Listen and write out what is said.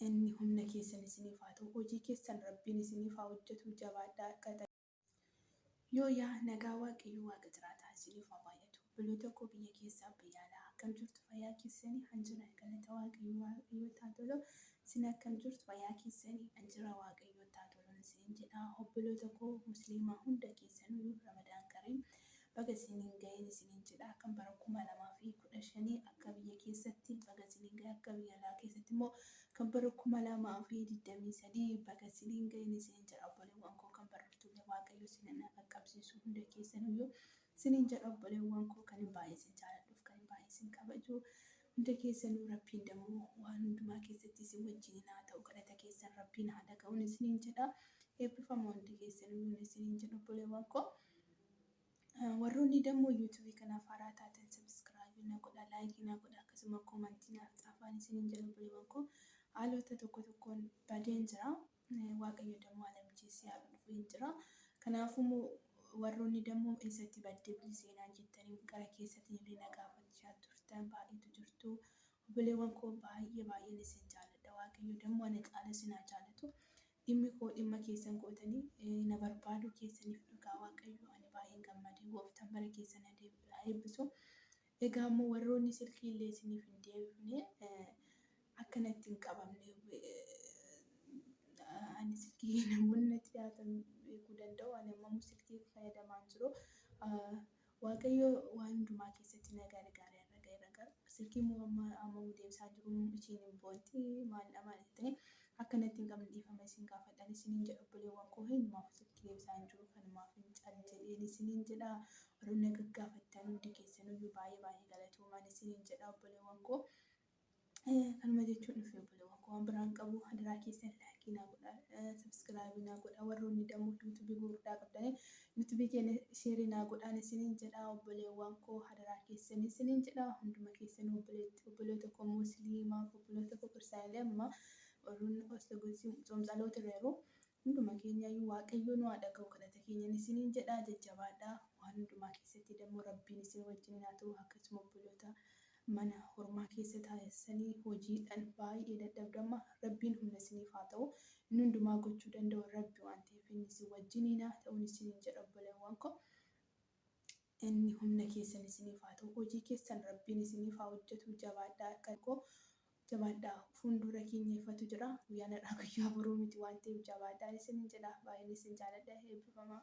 Inni humna keessan isiniif haa ta'u hojii keessan rabbiin isiniif haa hojjatu jabaadhaa qaxalee. Yoo yaa nagaa waaqayyoo waaqa jiraataa isiniif haa baay'atu obboloota koo biyya keessaa biyya alaa akkam jirtu fayyaa keessanii an jira galata waaqayyoo waaqayyootti haa tolu isin akkam jirtu fayyaa keessanii an jira waaqayyootti haa tolun isiniin jedha obboloota koo musliimaa hunda keessanuu ramadaan kariim Baga isiniin gahee isiniin jedha kan bara 2015 akka biyya keessatti baga isiniin gahe akka biyya alaa keessatti immoo kan bara 2023 baga isiniin gahe isiniin jedha obboleewwan koo kan barriftuulee waaqayyo isiniin haa qaqqabsiisu hunda keessanuyyuu isiniin jedha obboleewwan koo kan hin baay'ee isin jaaladhuuf kan hin baay'ee isin kabaju hunda keessanuu rabbiin damuu waan hundumaa keessatti isin wajjiniin haa ta'u kadhata keessan rabbiin haa dhaga'uun isiniin jedha eebbifama hundi keessanuu isiniin jedha obboleewwan koo Warroonni dammoo yuutuubii kanaaf haaraa taatan sabiskiraabii na godha, laayikii na godha, akkasuma koomantii naaf xaafaan isiniin jedhu buleewwan koo haalota tokko tokkoon badeen jira. Waaqayyo dammoo ana mijeessee haala dhufu hin jira. Kanaafuu warroonni dammoo eessatti badde buli seenaan jettanii gara keessatiin illee na gaafachaa turtan baay'eetu jirtu. Buleewwan koo baay'ee baay'een isin jaaladha. Waaqayyo dammoo ana caala isin haa jaalatu. Dhimmi koo dhimma keessan gootanii na barbaaduu keessaniif dhugaa Waaqayyoo ani baay'een gammade. Gooftaan bara keessan haa deebi'u haa eebbisu. Egaa immoo warroonni silkii illee isiniif hin deebifne akka natti hin qabamne ani silkii namoonni natti dhiyaatan beekuu danda'u ani ammamuu silkii fayyadamaan jiru. Waaqayyo waan hundumaa keessatti na gargaare har'a ga'eera garuu silkiin moo amma ammamu deebisaa jiru ishiin hin boonti maaldha maal jettanii akka natti hin qabne dhiifama isin gaafadha ani isiniin jedha obboleewwan koo hinumaafu silkii deebisaa hin jiru kanumaaf hin cal jedheen isiniin jedha warroonni na gaggaafattan hundi keessaniyyuu baay'ee baay'ee galatoomaa isiniin jedha obboleewwan koo Kanuma jechuun dhufe obboleewwan koo waan biraan qabu hadaraa keessan laakii naa godha sabskraabii naa godha warroonni dammoo yuutuubii gurguddaa qabdanii yuutuubii keenya sheerii naa godhaan isiniin jedha obboleewwan koo hadaraa keessan isiniin jedha hunduma keessan obboleewwan koo musliimaa obboleewwan koo kiristaanilee amma warroonni ortodoksii tsoomsaloota irra yeroo Hunduma keenyaayyuu waaqayyoo nu haa dhaga'u kadhata keenyan isiniin jedha jajjabaadhaa waan hundumaa keessatti dammoo rabbiin isin wajjiniin haa ta'u akkasuma obboloota mana hormaa keessa taa'essanii hojiidhan baay'ee dadhabdamma rabbiin humna isiniif haa ta'u inni hundumaa gochuu danda'u rabbi waan ta'eef inni isin wajjiniin haa ta'un isiniin jedha obboleewwan koo inni humna keessan isiniif haa ta'u hojii keessan rabbiin isiniif haa hojjetu jabaadhaa kan koo Jabaadhaa! Fuunduura keenya ifatu jira. Guyyaan har'aa guyyaa boruu miti waan ta'eef jabaadhaan isiniin jedha. Baay'een isin jaaladha. Eebbifamaa!